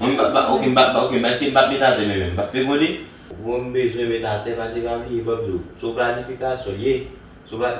Mwen m pap ok m pap ok eske m pap met atè menm m pap fegonde? Bro m bezwen met atè pase pa bliye bòm diw se yon planifikasyon l ye se pa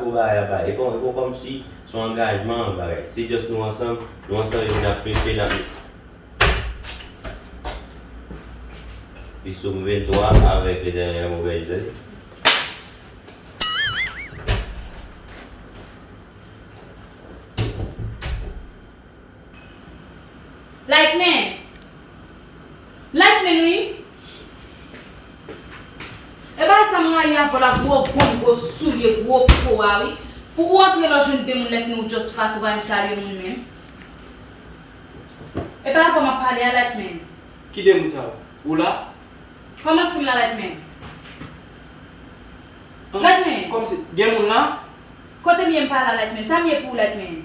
gwo bagay ap bay e pa kòmsi se yon angajman yon bagay se just nou ansanm nou ansanm epi nap preche nap Li sou m 23 avèk le dènye mo bèl jwèt. Like men. Like men wi. E bagay sa m rayi avèw la gwo gonm gwo soulye gwo po a wi pou ou antre lè w jwenn de moun lè fini ou just pase ou pa menm salye moun menm e pa avèw map pale a like men. Ki de moun sa yo? Ou la? Kòman sim la like men. Like men. Kòmsi gen moun la? Kotem ye m pa la like men. Sam ye pou ou like men.